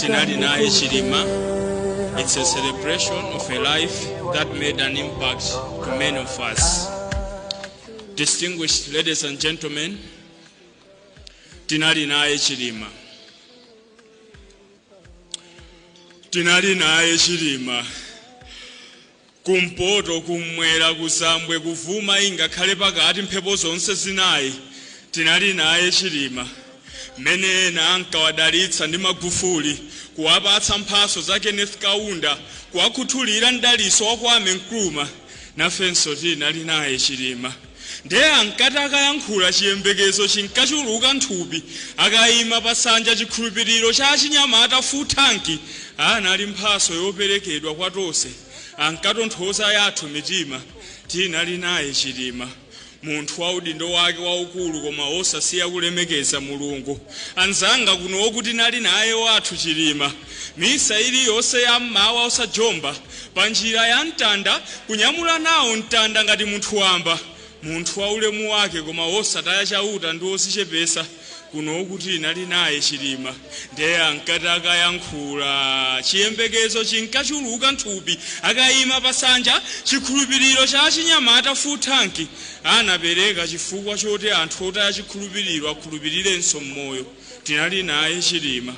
tinali naye chilima it's a celebration of a life that made an impact to many of us distinguished ladies and gentlemen tinali naye chilima tinali naye chilima Kumpoto, kummwera, kuzambwe, kuvuma ingakhale pakati mphepo zonse zinayi tinali naye Chilima mmene ena ankawadalitsa ndi Magufuli, kuwapatsa mphatso za Kenneth Kaunda, kuwakhuthulira m'dalitso wa Kwame Nkrumah nafenso tinali naye Chilima. Ndiye ankati akayankhula chiyembekezo chinkachuluka nthupi, akaima pasanja chikhulupiliro cha achinyamata full tank, anali mphaso yoperekedwa kwa tonse, ankatonthoza yathu mitima, tinali naye chilima, munthu wa udindo wake waukulu koma osasiya kulemekeza mulungu, anzanga kunoku tinali naye wathu chilima, misa iliyonse ya mmawa osajomba, Pa njira ya mtanda, kunyamula nawo mtanda ngati munthu wamba, munthu wa ulemu wake koma wosataya Chauta ndi wozichepesa, kunoku tinali naye Chilima nde ankati akayankhula, chiyembekezo chinkachuluka nthupi, akaima pa sanja, chikhulupiliro cha achinyamata full tank, anapereka chifukwa choti anthu otaya chikhulupiliro akhulupilirenso mmoyo, tinali naye Chilima.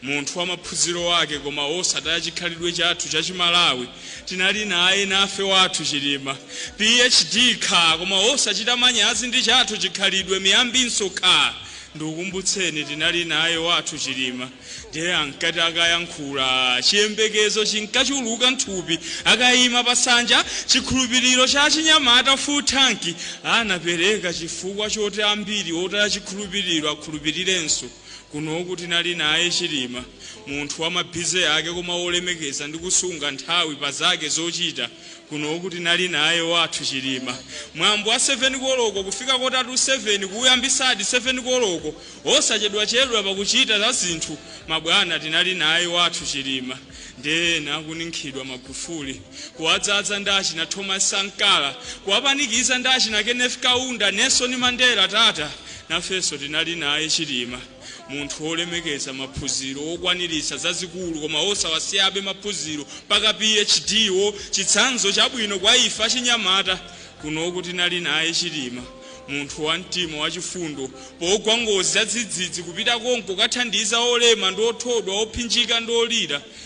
Munthu wa maphunziro ake koma osataya chikhalidwe chathu cha chimalawi tinali naye nafe wathu chilima phd kaa koma osachita manyazi ndi chathu chikhalidwe miyambinso kaa ndikukumbutseni tinali naye wathu chilima ndiye ankati akayankhulaa chiyembekezo chinkachuluka nthupi akayima pasanja chikhulupiliro cha achinyamata full tank anapereka chifukwa choti ambiri otaya chikhulupiliro akhulupilirenso Kunoku tinali naye Chilima, munthu wa ma busy ake koma wolemekeza ndi kusunga nthawi pa zake zochita. Kunoku tinali naye wathu Chilima. Mwambo wa 7 koloko kufika kota tu 7 kuwuyambisadi 7 koloko. Osachedwachedwa pa kuchita za zinthu. Mabwana tinali naye wathu Chilima. Nde ena akuninkhidwa Magufuli. kuwadzadza ndi achina Thomas Sankara, kuwapanikiza ndi achina Kenneth Kaunda, Nelson Mandela, Tata, nafenso tinali naye Chilima, munthu wolemekeza maphunziro, wokwaniritsa zazikulu koma wosawasiyabe maphunziro mpaka PhD, chitsanzo chabwino kwa ife achinyamata kunoku tinali naye Chilima, munthu wa mtima wachifundo, pogwa ngozi zadzidzidzi kupita konko kukathandiza olema ndi othodwa, ophinjika ndi olira,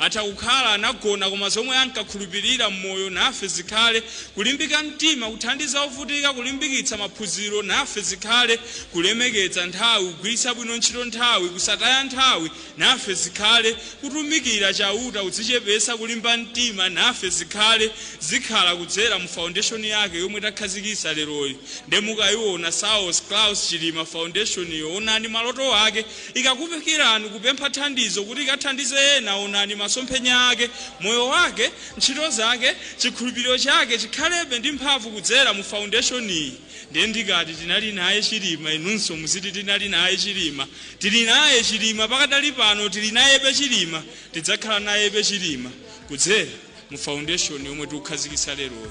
Atha kukhala anagona koma zomwe ankakhulupirira m'moyo Nafe zikhale Kulimbika mtima Kuthandiza ovutika Kulimbikitsa maphunziro Nafe zikhale Kulemekeza nthawi Kugwiritsa bwino ntchito nthawi Kusataya nthawi Nafe zikhale Kutumikira Chauta Kudzichepetsa Kulimba mtima Nafe zikhale Zikhala kudzera mu foundation yake yomwe takhazikitsa leroyi nde mukaiona Saulos Klaus Chilima Foundation yo onani maloto ake Ikakufikirani kupempha thandizo kuti ikathandize ena, onani masomphenya ake, moyo wake, ntchito zake, chikhulupiriro chake chikhalebe ndi mphamvu kudzera mu foundation-yi. Ndiye ndikati tinali naye Chilima inunso muziti tinali naye Chilima. Tili naye Chilima pakadali pano tili nayebe Chilima, tidzakhala nayebe Chilima kudzera mu foundation yomwe tikukhazikitsa leroyi.